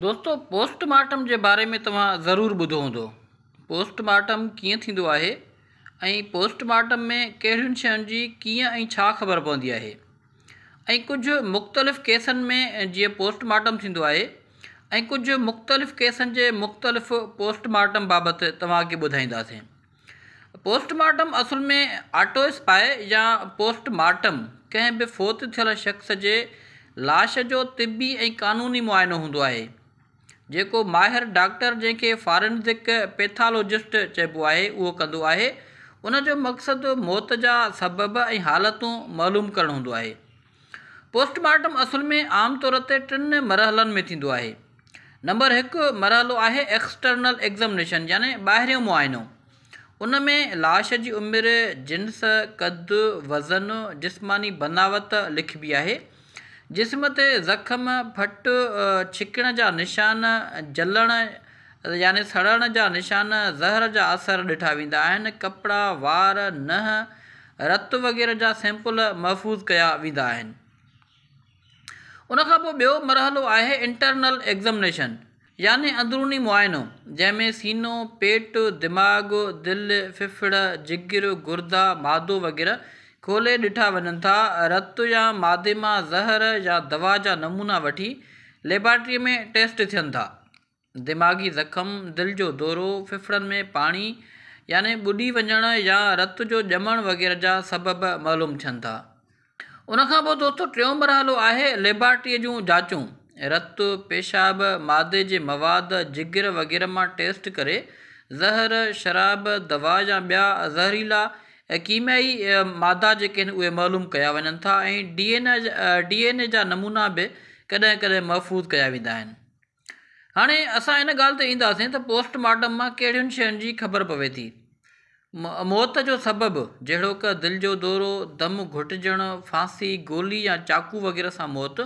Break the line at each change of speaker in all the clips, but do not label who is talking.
دوستو post mortem جي باري ۾ توهان ضرور ٻڌو هوندو پوسٽ مارٽم ڪيئن ٿيندو آهي ۽ پوسٽ مارٽم ۾ ڪهڙين شين جي ڪيئن ۽ ڇا خبر پوندي آهي ۽ ڪجهه مختلف ڪيسن ۾ جيئن پوسٽ مارٽم ٿيندو آهي ۽ ڪجهه مختلف ڪيسن جي مختلف پوسٽ مارٽم بابت توهان کي ٻڌائينداسين پوسٽ مارٽم اصل ۾ آٽوسپائي يا پوسٽ مارٽم ڪنهن به فوت ٿيل شخص جي لاش جو طبي ۽ قانوني معائنو هوندو آهي جيڪو ماهر ڊاڪٽر جنهن کي فارنزڪ پيٿالوجسٽ چئبو آهي اهو ڪندو آهي ان جو مقصد موت جا سبب ۽ حالتون معلوم ڪرڻ هوندو آهي پوسٽ مارٽم اصل ۾ عام طور تي ٽن مرحلن ۾ ٿيندو آهي. نمبر هڪ مرحلو آهي ايڪسٽرنل ايگزامنيشن يعني ٻاهريون معائنو. ان ۾ لاش جي عمر، جنس، قد، وزن، جسماني بناوت لکبي آهي. جسم تي زخم، ڦٽ، ڇڪڻ جا نشان، جلڻ، يعني سڙڻ جا نشان، زهر جا اثر ڏٺا ويندا آهن، ڪپڙا، وار، ننهن، رت وغيره جا سيمپل محفوظ ڪيا ويندا آهن. ان کان پوء ٻيو مرحلو آهي انٽرنل ايگزمنيشن يعني اندروني معائنو جنهن ۾ سينو، پيٽ، دماغ، دل، ڦڦڙ، جگر، گردا، معدو وغيره کولي ڏٺا وڃن ٿا، رت يا معدي مان زهر يا دوا جا نمونا وٺي ليبارٽري ۾ ٽيسٽ ٿين ٿا. دماغي زخم، دل جو دورو، ڦڦڙن ۾ پاڻي يعني ٻڏي وڃڻ يا رت جو ڄمڻ وغيره جا سبب معلوم ٿين ٿا. ان کان پوء دوستو ٽيون مرحلو آهي ليبارٽريء جون جاچون. رت، پيشاب، معدي جي مواد، جگر وغيره مان ٽيسٽ ڪري زهر، شراب، دوا يا ٻيا زهريلا ڪيميائي مادا جيڪي آهن اهي معلوم ڪيا وڃن ٿا ۽ ڊي اين اي جا نمونا به ڪڏهن ڪڏهن محفوظ ڪيا ويندا آهن. هاڻي اسان ان ڳالهه تي اينداسين ته پوسٽ مارٽم مان ڪهڙين شين جي خبر پوي ٿي. موت جو سبب جهڙوڪ دل جو دورو، دم گهٽجڻ، ڦاسي، گولي يا چاقو وغيره سان موت،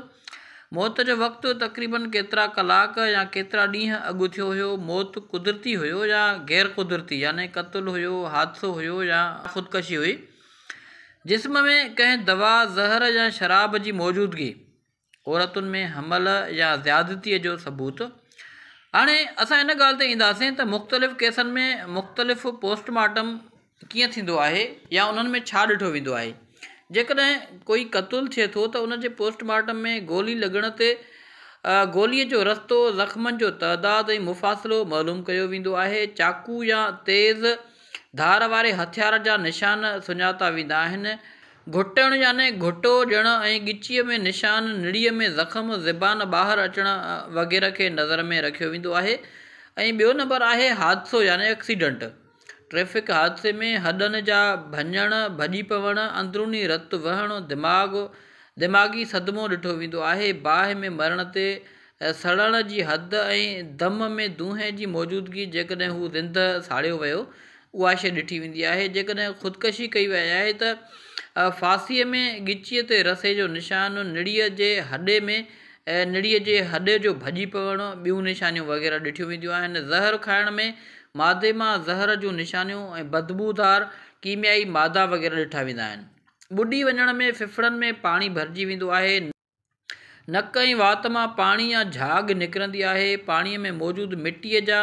موت جو وقت تقريباً ڪيترا ڪلاڪ يا ڪيترا ڏينهن اڳ ٿيو هيو، موت قدرتي هيو يا غير قدرتي يعني قتل هيو، حادثو هيو يا خودڪشي هئي، جسم ۾ ڪنهن دوا، زهر يا شراب جي موجودگي. عورتن ۾ حمل يا زيادتيء جو ثبوت هاڻي اسان ان ڳالهه تي اينداسين ته مختلف ڪيسن ۾ مختلف پوسٽ مارٽم ڪيئن ٿيندو آهي يا انهن ۾ ڇا ڏٺو ويندو آهي جيڪڏهن ڪوئي قتل ٿئي ٿو ته ان جي پوسٽ مارٽم ۾ گولي لڳڻ تي گوليء جو رستو زخمن جو تعداد ۽ مفاصلو معلوم ڪيو ويندو آهي چاقو يا تيز ڌار واري هٿيار جا نشان سڃاتا ويندا آهن گهٽڻ يعني گهٽو ڏيڻ ۽ ڳچيء ۾ نشان، نڙيء ۾ زخم، زبان ٻاهر اچڻ وغيره کي نظر ۾ رکيو ويندو آهي ۽ ٻيو نمبر آهي حادثو يعني اڪسيڊنٽ. ٽريفڪ حادثي ۾ هڏن جا ڀڃڻ، ڀڄي پوڻ، اندروني رت وهڻ، دماغ، دماغي صدمو ڏٺو ويندو آهي، باهه ۾ مرڻ تي سڙڻ جي حد ۽ دم ۾ دونهي جي موجودگي جيڪڏهن هو زنده ساڙيو ويو اها شيء ڏٺي ويندي آهي جيڪڏهن خودڪشي ڪئي وئي آهي ته ڦاسيء ۾ ڳچيء تي رسي جو نشان نڙيء جي هڏي ۾ نڙيء جي هڏي جو ڀڄي پوڻ ٻيون نشانيون وغيره ڏٺيون وينديون آهن زهر کائڻ ۾ مادي مان زهر جون نشانيون ۽ بدبودار ڪيميائي مادا وغيره ڏٺا ويندا آهن ٻڏي وڃڻ ۾ ڦڦڙن ۾ پاڻي ڀرجي ويندو آهي نڪ ۽ وات مان پاڻي يا جھاڳ نڪرندي آهي. پاڻي ۾ موجود مٽي جا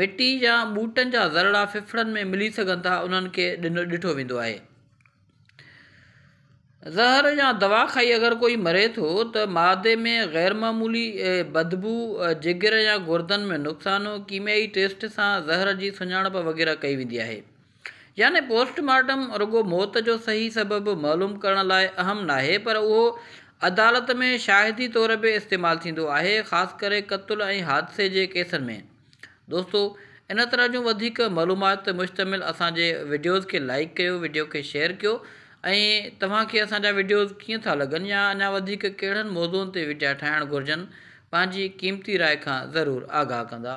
مٽي يا ٻوٽن جا ذرڙا ڦڦڙن ۾ ملي سگھن ٿا انهن کي ڏٺو ويندو آهي. زهر يا دوا کائي اگر ڪوئي مري ٿو ته معدي ۾ غيرمعمولي بدبو، جگر يا گردن ۾ نقصان، ڪيميائي ٽيسٽ سان زهر جي سڃاڻپ وغيره ڪئي ويندي آهي. يعني پوسٽ مارٽم رڳو موت جو صحيح سبب معلوم ڪرڻ لاء اهم ناهي پر اهو عدالت ۾ شاهدي طور به استعمال ٿيندو آهي خاص ڪري قتل ۽ حادثي جي ڪيسن ۾ دوستو ان طرح جون وڌيڪ معلومات تي مشتمل اسان جي وڊيوز کي لائيڪ ڪيو وڊيو کي شيئر ڪيو ۽ توهان کي اسان جا وڊيوز ڪيئن ٿا لڳن يا اڃا وڌيڪ ڪهڙن موضوعن تي وڊيا ٺاهڻ گهرجن پنهنجي قيمتي راء کان ضرور آگاهه ڪندا